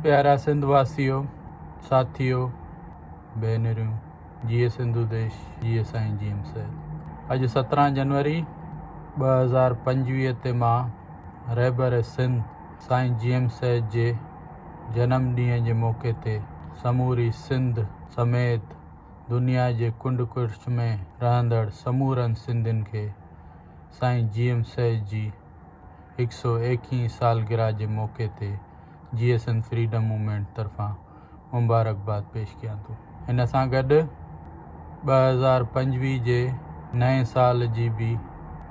پيارا سنڌ واسيو، ساٿيو، ڀينريون، جيئي سنڌو ديش، جيئي سائين جي ايم سيد. اڄ سترهن جنوري ٻه هزار پنجويهه تي مان رهبر سنڌ سائين جي ايم سيد جي جنم ڏينهن جي موقعي تي سموري سنڌ سميت دنيا جي ڪنڊ ڪڙڇ ۾ رهندڙ سمورن سنڌين کي سائين جي ايم سيد جي هڪ سئو ايڪيهين سالگرهه جي موقعي تي J S N freedom movement طرفان مبارڪباد پيش ڪيان ٿو. ان سان گڏ ٻه هزار پنجويهه جي نئين سال جي به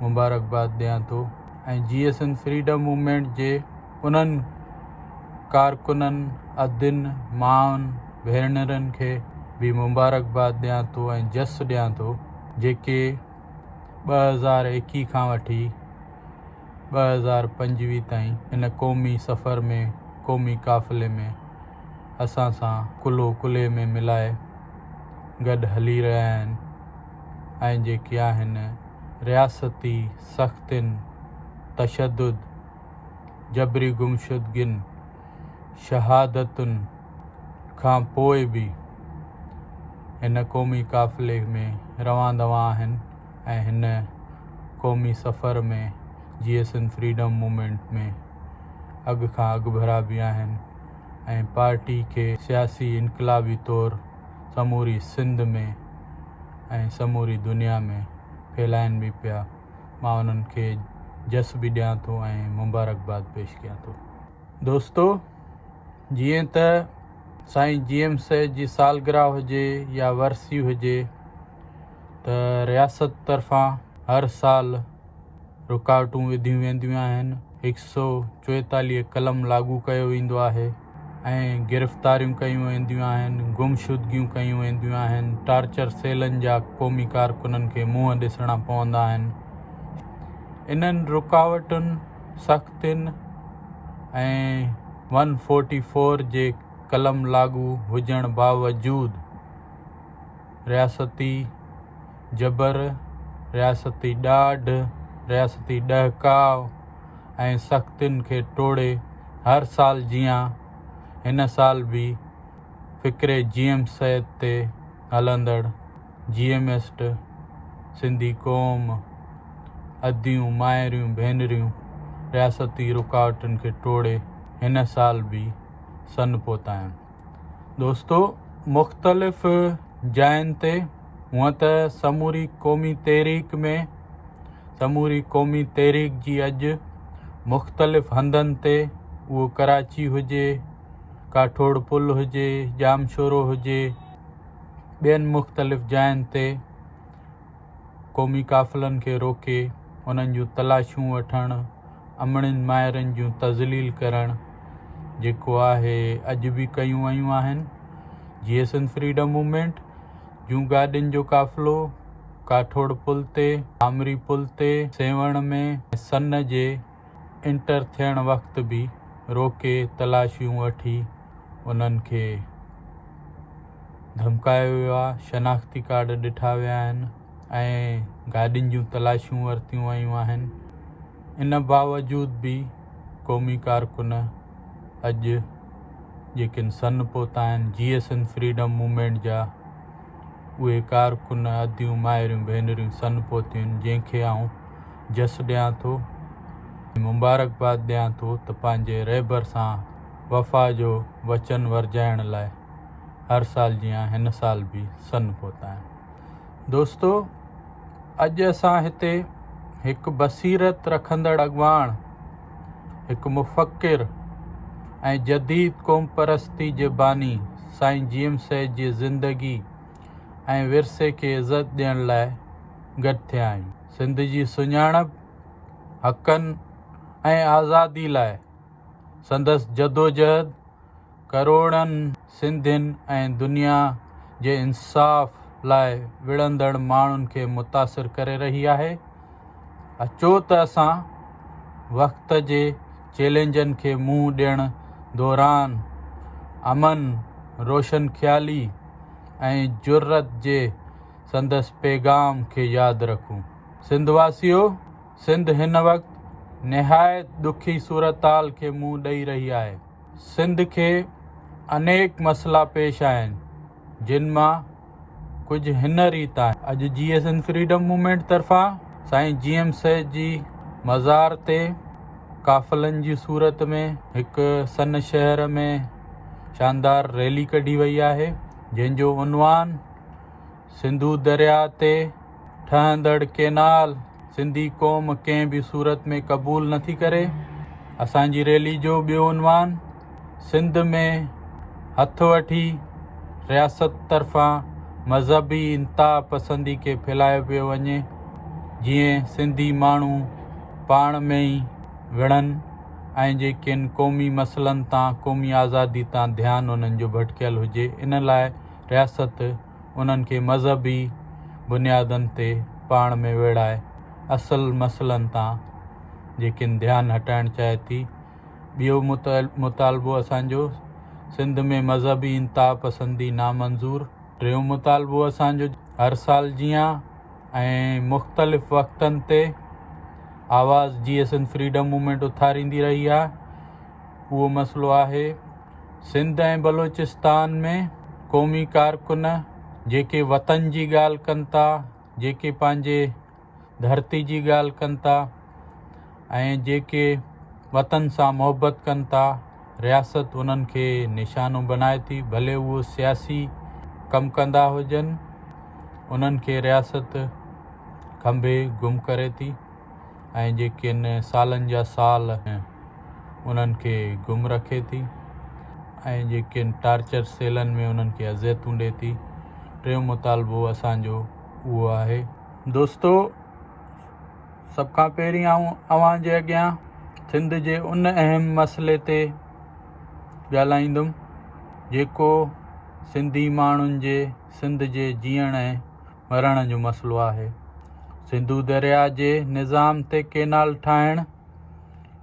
مبارڪباد ڏيان ٿو ۽ J S N freedom movement جي انهن ڪارڪنن، ادين، مائن، ڀينرن کي به مبارڪباد ڏيان ٿو ۽ جس ڏيان ٿو جيڪي ٻه هزار ايڪيهه کان وٺي ٻه هزار پنجويهه تائين هن قومي سفر ۾ قومي قافلي ۾ اسان سان ڪلهو ڪلهي ۾ ملائي گڏ هلي رهيا آهن ۽ جيڪي آهن رياستي سختين، تشدد، جبري گمشدگين، شهادتن کان پوء به هن قومي قافلي ۾ روان دوان آهن ۽ هن قومي سفر ۾ J S N freedom movement ۾ اڳ کان اڳڀرا به آهن ۽ پارٽي کي سياسي انقلابي طور سموري سنڌ ۾ ۽ سموري دنيا ۾ ڦهلائين به پيا. مان انهن کي جس به ڏيان ٿو ۽ مبارڪباد پيش ڪيان ٿو. دوستو جيئن ته سائين جي ايم سيد جي سالگرهه هجي يا ورسي هجي ته رياست طرفان هر سال رڪاوٽون وڌيون وينديون آهن هڪ سؤ چويتاليهه قلم لاڳو ڪيو ويندو آهي ۽ گرفتاريون ڪيون وينديون آهن، گمشدگيون ڪيون وينديون آهن، ٽارچر سيلن جا قومي ڪارڪنن کي منهن ڏسڻا پوندا آهن. انهن رڪاوٽن، سختين ۽ ون فورٽي فور جي قلم لاڳو هجڻ باوجود، رياستي جبر، رياستي ڏاڍ، رياستي ڏهڪاء ۽ سختين کي ٽوڙي هر سال جيان هن سال به فڪري جي ايم سيد تي هلندڙ جي ايم ايسٽ سنڌي قوم، اديون، مائريون، ڀينريون رياستي رڪاوٽن کي ٽوڙي هن سال به سن پهتايون. دوستو! مختلف جاين تي هونئن ته سموري قومي تحريڪ ۾ سموري قومي تحريڪ جي اڄ مختلف هنڌن تي اهو ڪراچي هجي، ڪاٺوڙ پل هجي، ڄامشورو هجي ٻين مختلف جاين تي قومي قافلن کي روڪي انهن جون تلاشون وٺڻ، امڙين مائرن جون تذليل ڪرڻ جيڪو آهي اڄ به ڪيون ويون آهن. جيئي سنڌ فريڊم موومينٽ جون گاڏين جو قافلو ڪاٺوڙ پل تي، آمري پل تي، سيوهڻ ۾ ۽ سن جي انٽر ٿيڻ وقت به روڪي تلاشيون وٺي انهن کي ڌمڪايو ويو آهي، شناختي ڪارڊ ڏٺا ويا آهن ۽ گاڏين جون تلاشيون ورتيون ويون آهن، ان باوجود به قومي ڪارڪن اڄ جيڪن سن پوتا آهن، J S N freedom movement جا اهي ڪارڪن اديون مائريون ڀينريون سن پوتيون آهن جنهن کي آئون جس ڏيان ٿو ۽ مبارڪباد ڏيان ٿو ته پنهنجي رهبر سان وفا جو وچن ورجائڻ لاء هر سال جيان هن سال به سن پهتايان. دوستو اڄ اسان هتي هڪ بصيرت رکندڙ اڳواڻ، هڪ مفڪر ۽ جديد قوم پرستي جي باني سائين جي ايم سيد جي زندگي ۽ ورثي کي عزت ڏيڻ لاء گڏ ٿيا آهيون. سنڌ جي سڃاڻپ، حقن ۽ آزادي لاء سندس جدوجهد ڪروڙن سنڌين ۽ دنيا جي انصاف لاء وڙهندڙ ماڻهن کي متاثر ڪري رهي آهي. اچو ته اسان وقت جي چئلينجن کي منهن ڏيڻ دوران امن، روشنخيالي ۽ جرئت جي سندس پيغام کي ياد رکون. سنڌ واسيو! سنڌ هن وقت نهايت ڏکي صورتحال کي منهن ڏئي رهي آهي. سنڌ کي انيڪ مسئلا پيش آهن، جن مان ڪجهه هن ريت آهن. اڄ J S and freedom movement طرفان سائين جي ايم سيد جي مزار تي قافلن جي صورت ۾ هڪ سن شهر ۾ شاندار ريلي ڪڍي وئي آهي، جنهن جو عنوان سنڌو درياء تي ٺهندڙ ڪينال سنڌي قوم ڪنهن به صورت ۾ قبول نه ٿي ڪري، اسان جي ريلي جو ٻيو عنوان سنڌ ۾ هٿ وٺي رياست طرفان مذهبي انتها پسندي کي ڦهلايو پيو وڃي جيئن سنڌي ماڻهو پاڻ ۾ ئي وڙهن ۽ جيڪن قومي مسئلن تان قومي آزادي تان ڌيان انهن جو ڀٽڪيل هجي ان لاء رياست انهن کي مذهبي بنيادن تي پاڻ ۾ ويڙهائي اصل مسئلن تان جيڪن ڌيان هٽائڻ چاهي ٿي. ٻيو مطالبو اسان جو سنڌ ۾ مذهبي انتها پسندي نامنظور. ٽيون مطالبو اسان جو هر سال جيان ۽ مختلف وقتن تي آواز جيئسن فريڊم موومينٽ اٿاريندي رهي آهي. اهو مسئلو آهي سنڌ ۽ بلوچستان ۾ قومي ڪارڪن جيڪي وطن جي ڳالهه ڪن ٿا جيڪي پنهنجي ڌرتي جي ڳالهه ڪن ٿا ۽ جيڪي وطن سان محبت ڪن ٿا رياست انهن کي نشانو بنائي ٿي ڀلي اهو سياسي ڪم ڪندا هجن انهن کي رياست کنڀي گم ڪري ٿي. ۽ جيڪن سالن جا سال انهن کي گم رکي ٿي ۽ جيڪن ٽارچر سيلن ۾ انهن کي اذيتون ڏي ٿي ٽيون مطالبو اسان جو اهو آهي. دوستو سڀ کان پهرين آئون اوهان جي اڳيان سنڌ جي ان اهم مسئلي تي ڳالهائيندم جيڪو سنڌي ماڻهن جي سنڌ جي جيئڻ ۽ مرڻ جو مسئلو آهي. سنڌو درياء جي نظام تي ڪينال ٺاهڻ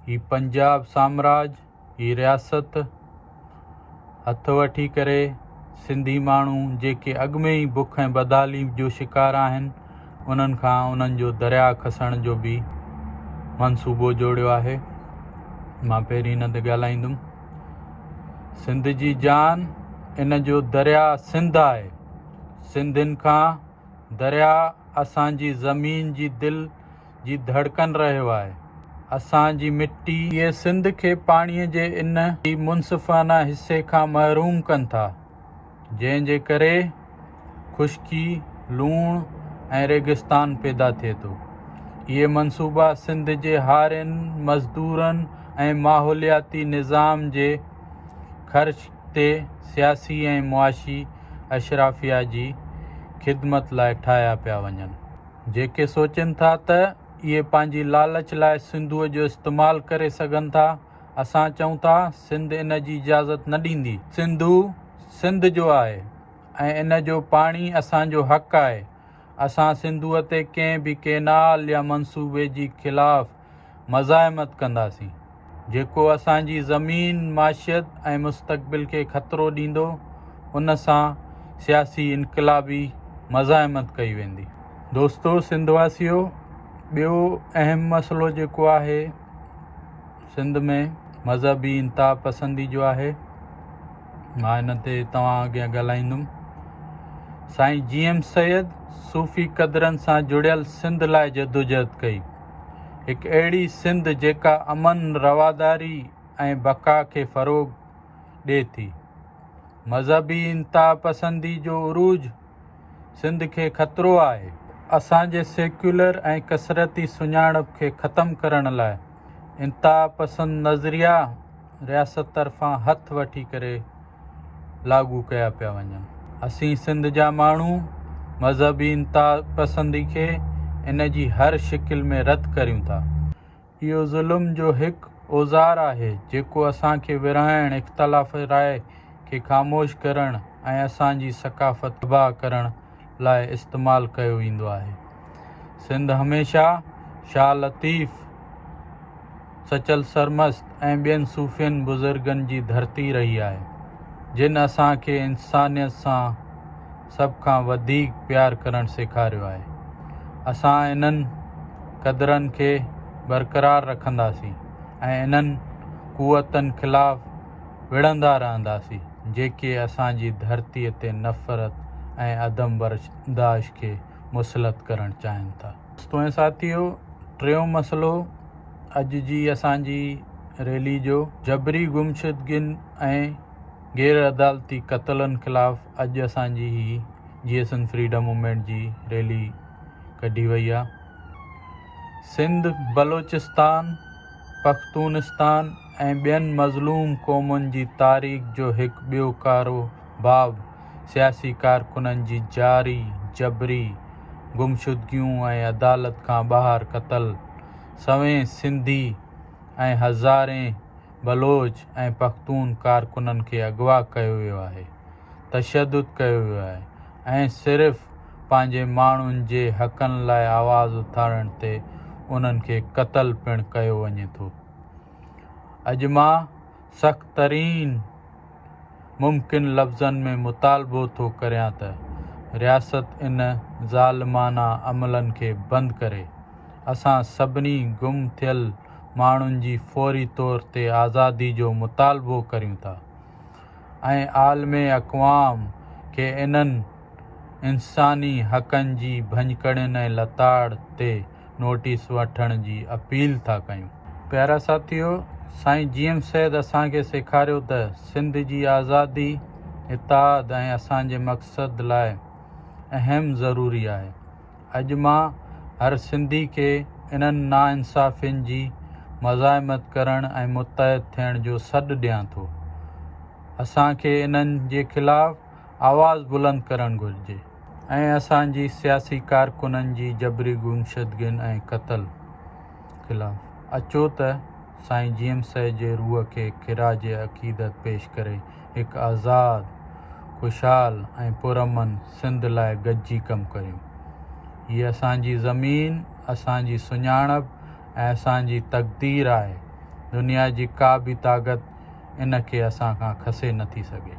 هي پنجاب سامراج هي رياست هٿ وٺي ڪري سنڌي ماڻهو جيڪي اڳ ۾ ئي بک ۽ بدحالي جو شڪار آهن انهن کان انهن جو درياء کسڻ جو به منصوبو جوڙيو آهي مان پهرين هن تي ڳالهائيندم سنڌ جي جان ان جو درياء سنڌ آهي سنڌين کان درياء اسان جي زمين جي دل جي ڌڙڪن رهيو آهي، اسان جي مٽي. اهي سنڌ کي پاڻي جي ان ئي منصفانه حصي کان محروم ڪن ٿا، جنهن جي ڪري خشڪي، لوڻ ۽ ريگستان پيدا ٿئي ٿو. اهي منصوبا سنڌ جي هارين، مزدورن ۽ ماحولياتي نظام جي خرچ. تي سياسي ۽ معاشي اشرافيا جي خدمت لاء ٺاهيا پيا وڃن، جيڪي سوچين ٿا ته اهي پنهنجي لالچ لاء سنڌوء جو استعمال ڪري سگهن ٿا، اسان چئون ٿا سنڌ ان جي اجازت نه ڏيندي، سنڌو سنڌ جو آهي ۽ ان جو پاڻي اسان جو حق آهي، اسان سنڌوء تي ڪنهن به ڪينال يا منصوبي جي خلاف مزاحمت ڪنداسين، جيڪو اسان جي زمين، معشيت ۽ مستقبل کي خطرو ڏيندو، ان سان سياسي انقلابي مزاحمت ڪئي ويندي. دوستو سنڌ واسيو! ٻيو اهم مسئلو جيڪو آهي سنڌ ۾ مذهبي انتها پسندي جو آهي، مان ان تي توهان اڳيان ڳالهائيندم. سائين جي ايم سيد صوفي قدرن سان جڙيل سنڌ لاء جدوجهد ڪئي. هڪ اهڙي سنڌ جيڪا امن، رواداري ۽ بقا کي فروغ ڏي ٿي. مذهبي انتهاپسندي جو عروج سنڌ کي خطرو آهي. اسان جي سيڪيولر ۽ ڪثرتي سڃاڻپ کي ختم ڪرڻ لاء انتهاپسند نظريا رياست طرفان هٿ وٺي ڪري لاڳو ڪيا پيا وڃن. اسين سنڌ جا ماڻهو مذهبي انتهاپسندي کي ان جي هر شڪل ۾ رد ڪريون ٿا. اهو ظلم جو هڪ اوزار آهي جيڪو اسان کي ورهائڻ، اختلاف راء کي خاموش ڪرڻ ۽ اسان جي ثقافت تباهه ڪرڻ لاء استعمال ڪيو ويندو آهي. سنڌ هميشه شاهه لطيف، سچل سرمست ۽ ٻين صوفين بزرگن جي ڌرتي رهي آهي، جن اسان کي انسانيت سان سڀ کان وڌيڪ پيار ڪرڻ سيکاريو آهي. اسان انهن قدرن کي برقرار رکنداسين ۽ انهن قوتن خلاف وڙهندا رهنداسين جيڪي اسان جي ڌرتي تي نفرت ۽ عدم برداشت کي مسلط ڪرڻ چاهين ٿا. دوستو ۽ ساٿيو ٽيون مسئلو اڄ جي اسان جي ريلي جو جبري گمشدگين ۽ غير عدالتي قتلن خلاف اڄ اسان جي هي J S N freedom movement جي ريلي ڪڍي وئي آهي سنڌ بلوچستان پختونستان ۽ ٻين مظلوم قومن جي تاريخ جو هڪ ٻيو ڪارو باب سياسي ڪارڪنن جي جاري جبري گمشدگيون ۽ عدالت کان ٻاهر قتل سوين سنڌي ۽ هزارين بلوچ ۽ پختون ڪارڪنن کي اغوا ڪيو ويو آهي تشدد ڪيو ويو آهي ۽ صرف پنهنجي ماڻهن جي حقن لاء آواز اٿارڻ تي انهن کي قتل پڻ ڪيو وڃي ٿو. اڄ مان سخت ترين ممڪن لفظن ۾ مطالبو ٿو ڪريان ته رياست ان ظالمانه عملن کي بند ڪري، اسان سڀني گم ٿيل ماڻهن جي فوري طور تي آزادي جو مطالبو ڪريون ٿا ۽ عالم اقوام کي انهن انساني حقن جي ڀڃڪڙين ۽ لتاڙ تي نوٽيس وٺڻ جي اپيل ٿا ڪيون. پيارا ساٿيو! سائين جي ايم سيد اسان کي سيکاريو ته سنڌ جي آزادي، اتحاد ۽ اسان جي مقصد لاء اهم ضروري آهي. اڄ مان هر سنڌي کي انهن ناانصافين جي مزاحمت ڪرڻ ۽ متحد ٿيڻ جو سڏ ڏيان ٿو. اسان کي انهن جي خلاف آواز بلند ڪرڻ گهرجي ۽ اسان جي سياسي ڪارڪنن جي جبري گمشدگين ۽ قتل خلاف اچو ته سائين جيئم سيد جي روح کي خراج عقيدت پيش ڪري هڪ آزاد، خوشحال ۽ پرامن سنڌ لاء گڏجي ڪم ڪريون. هيء اسان جي زمين، اسان جي سڃاڻپ ۽ اسان جي تقدير آهي، دنيا جي ڪا به طاقت ان کي اسان کان کسي نٿي سگهي.